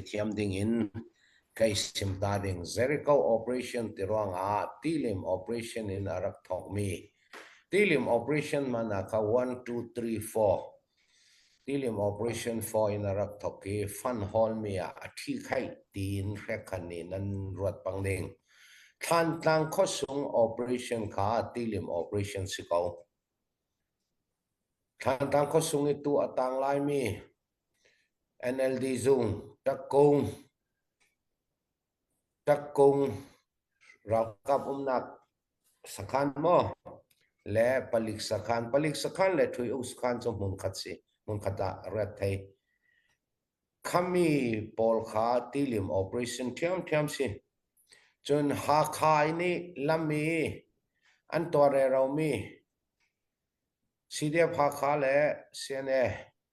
Ngaihthiam dingin kai sim hna ding. Jericho operation ti ruangah tilim operation in a rak thawkmi. Tilim operation man ah kha 1, 2, 3, 4. Tilim operation 4 in a rak thawk i fan hallmi ah a thi khai tiin hrekhan in nan ruat pang ding. Thlantlang khosung operation kha tilim operation si ko. Thlantlang khosung i tu a tang laimi NLD zung ṭakkung ralkap umnak sakhan maw le palik sakhan palik sakhan le ṭhui-uk sakhan cu hmunkhat ah rat thei. Khami pawl kha tilim operation ṭhiamṭhiam si. Cun Hakha nih lam i an tuarreromi CDF Hakha le CNA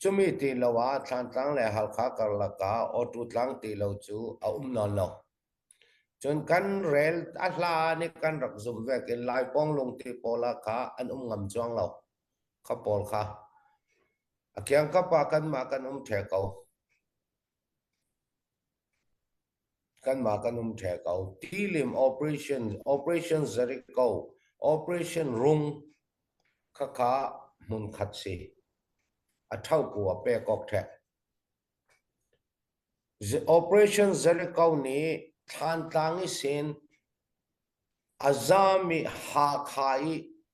Cumi ti lo ah Thlantlang le Halkha karlak ah Awṭu tlang ti lo cu a um nawn lo. Cun kan rel a hlan i kan rak zumh vek i Lai Pawnglung ti pawl ah kha an um ngam cuang lo, kha pawl kha. A kiangkap ah kanmah kan um ṭheh ko. Kanmah kan um ṭheh ko, thilim operation, operation zarih ko, operation rung khakha hmunkhat si, a ṭhoku a pek awk ṭheh. Operation zarih ko nih thlantlang i sen a zaam i Hakha i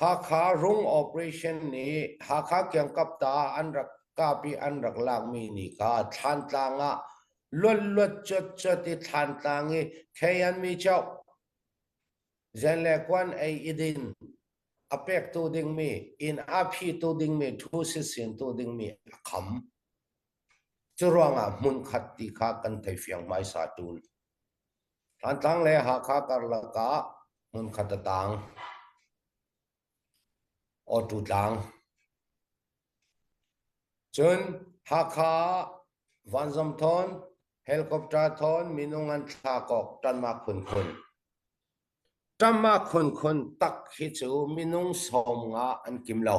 Hakha Rung Operation nih Hakha kiangkapta ah an rak kap i an rak lakmi ni kha Thlantlang ah luatluat cawtcawt i Thlantlang i Khei an mi coh, Zen le Kuan ei i din, a pektu dingmi, inn a phitu dingmi, thu sisintu dingmi a kham. Curuangah hmunkhat ti kha kan thei fiang hmaisa tun. Thantlang le Hakha karlak ah hmunkhat a taang. Awṭu tlang. Cun Hakha ah vanzam thawn, helicopter thawn minung an thlak awk ṭanmak phunphun. Ṭanmak phunphun tak hi cu minung sawm nga an kim lo.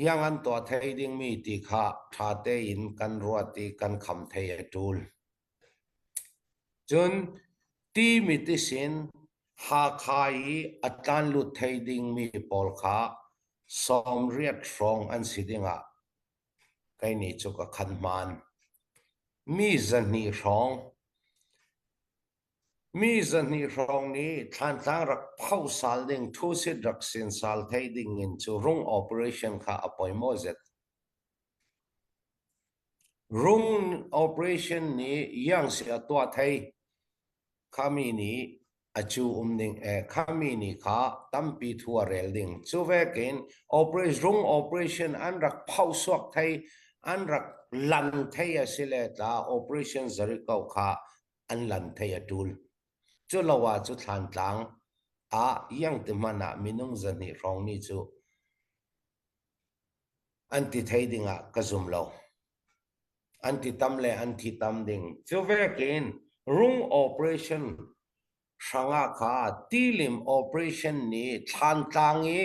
Hiang an tuah thai dingmi ti kha ṭha tein kan ruat i kan kham thai a ṭul. Cun timit isin Hakha i a tlan lut thai dingmi pawl kha sawmriat hrawng an si dingah kei nih cu ka khan hmaan. Mi zahnih hrawng. Mi zahnih hrawng nih thlantlang rak phoh sal ding thusit rak sinsal thei ding in cuhrung operation kha a poi maw zet? Rung operation nih iang si a tuah thei khami nih a cu um ding e khami nih kha tampi thu a rel ding. Cu vekin operation rung operation an rak phoh suak thei an rak lan thei a si le tla operation zarih ko kha an lan thei a ṭul. Culo ah cu Thlantlang ah Iangti hmanh ah minung zahnih hrawng mi cu an ti thei ding ah ka zum lo. An ti tam le an thi tam ding. Cu vekin rung operation hranga kha tilim operation nih Thlantlang i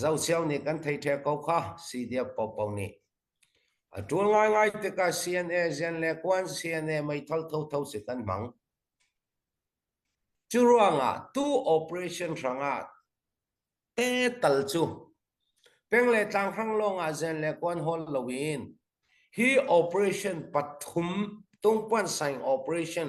Zohcheu nih kan thei ṭheo ko kha, si tiah Popo nih. A ṭul ngaingai tikah CNA zian le Kuan CNA meithal thotho si kan hmang. Cu ruangah tu operation hrangah te tal cu peng le tlanghang lawngah zian le kuan hol loin hi operation pathum tungpuan saing operation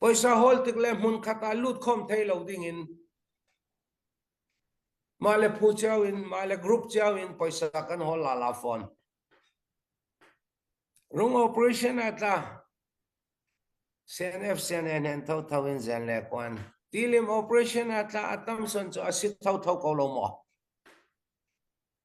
Pawisa hawl tik le hmunkhat ah lut khawm thai lo dingin mah le phu cio in mah le group cio in pawisa kan hawl la la fawn. Rung operation a tla CNF CNN hen tho tho in zen le kwan. Tilim operation a tla a tam son cu a si tho tho ko lo maw?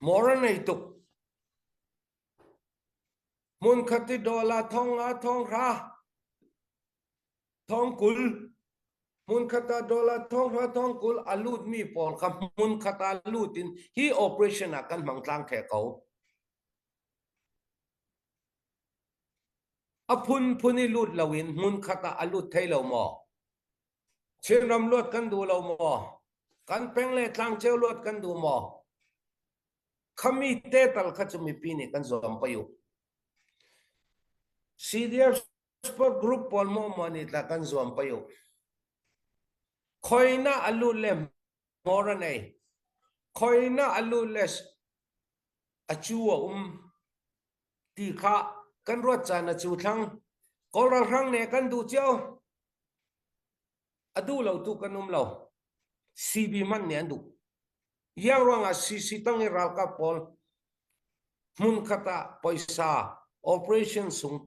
Mawr a ngei tuk. Hmunkhat i dawl ah thong ah thong hra. Thong kul. Hmunkhat ah dawl ah thong hra thong kul a lutmi pawl kha hmunkhat ah lut in hi operation ah kan hmang tlang the ko. A phunphun i lut lo in hmunkhat ah a lut thei lo maw? Chinram luat kan duh lo maw? Kan peng le tlangceu luat kan duh maw? Khami te tal kha cu mipi nih kan zuam pei u. CDF Sport Group pawl maw maw nih tla kan zuam pei u. Khoina alut le ngor an ei. Khoina alut le a cu a um. Ti khah kan ruat caan a cuthlang. Kawl ralhrang nih kan duh cio. A duh lo tu kan um lo. CB hmanh nih an duh. Iang ruangah CC tang i ralkap pawl hmun khat ah poisa operation sung